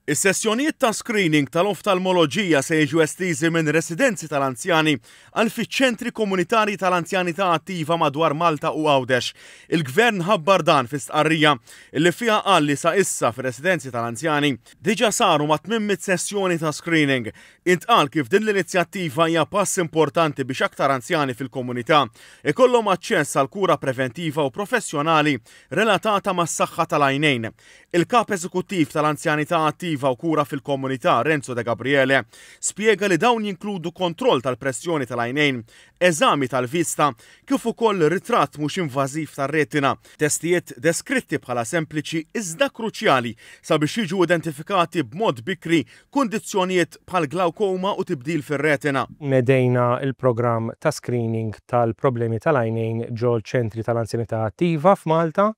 Is-sessjonijiet ta' screening tal-oftalmoloġija se jiġu estiżi minn residenzi tal-anzjani għal fiċ-ċentri komunitarji tal-anzjanità attiva madwar Malta u Għawdex. Il-Gvern ħabbar dan fi stqarrija li fiha qal li sa issa fir-residenzi tal-anzjani diġà saru mat-800 sessjoni ta' screening. Intqal kif din l-inizjattiva hija pass importanti biex aktar anzjani fil-komunità jkollhom aċċess għal kura preventiva u professjonali relatata mas-saħħa tal-għajnejn. Il-Kap Eżekuttiv tal-Anzjanità Attiva u Kura fil-Komunità, Renzo De Gabriele, spjega li dawn jinkludu kontroll tal-pressjoni tal-għajnejn, eżami tal-vista, kif ukoll ritratt mhux invażiv tar-retina, testijiet deskritti bħala sempliċi iżda kruċjali sabiex jiġu identifikati b'mod bikri kundizzjonijiet bħal glawkoma u tibdil fir-retina. Nedejna l-programm ta' screening tal-problemi tal-għajnejn ġol-Ċentri tal-Anzjanità Attiva f'Malta,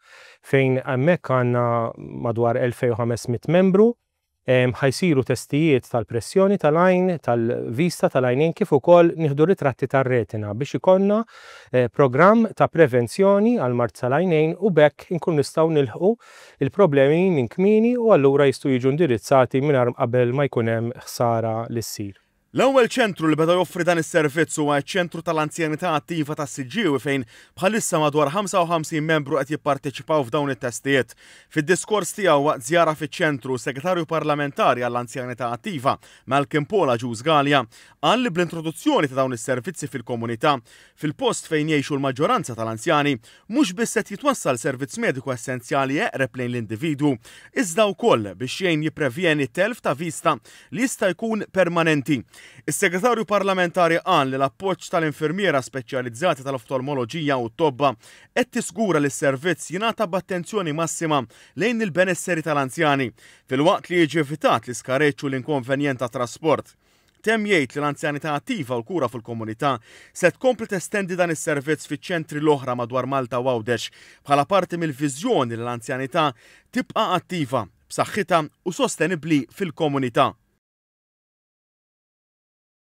fejn hemmhekk għandna madwar 2,500 membru, ħa jsiru testijiet tal-pressjoni tal-għajn, tal-vista tal-għajnejn kif ukoll nieħdu ritratti tar-retina biex ikollna programm ta' prevenzjoni għall-mard tal-għajnejn u b'hekk inkunu nistgħu nilħqu l-problemi minn kmieni u allura jistgħu jiġu indirizzati mingħajr qabel ma jkun hemm ħsara li ssir. L-ewwel ċentru li beda joffri dan is-servizz huwa ċ-Ċentru tal-Anzjanità Attiva tas-Siġġiewi fejn bħalissa madwar 55 membru qed jipparteċipaw f'dawn it-testijiet. Fid-diskors tiegħu waqt żjara fiċ-ċentru, s-Segretarju Parlamentari għall-Anzjanità Attiva, Malcolm Paul Agius Galea, qal li bl-introduzzjoni ta' dawn is-servizzi fil-komunità, fil-post fejn jgħixu l-maġġoranza tal-anzjani, mhux biss qed jitwassal servizz mediku essenzjali eqreb lejn l-individwu, iżda wkoll biex jgħin jipprevjeni t-telf ta' vista li jista' jkun permanenti. Is-Segretarju Parlamentari qal li l-appoġġ tal-infermiera speċjalizzata tal-oftalmoloġija u t-tobba qed tiżgura li s-servizz jingħata b'attenzjoni massima lejn il-benesseri tal-anzjani, filwaqt li jiġi evitat l-iskareġġ u l-inkonvenjent tat-trasport. Temm jgħid li l-anzjanità attiva u l-kura fil-komunità se tkompli testendi dan is-servizz fiċ-ċentri l-oħra madwar Malta u Għawdex bħala parti mill-viżjoni li l-anzjanità tibqa' attiva, b'saħħitha u sostenibbli fil-komunità.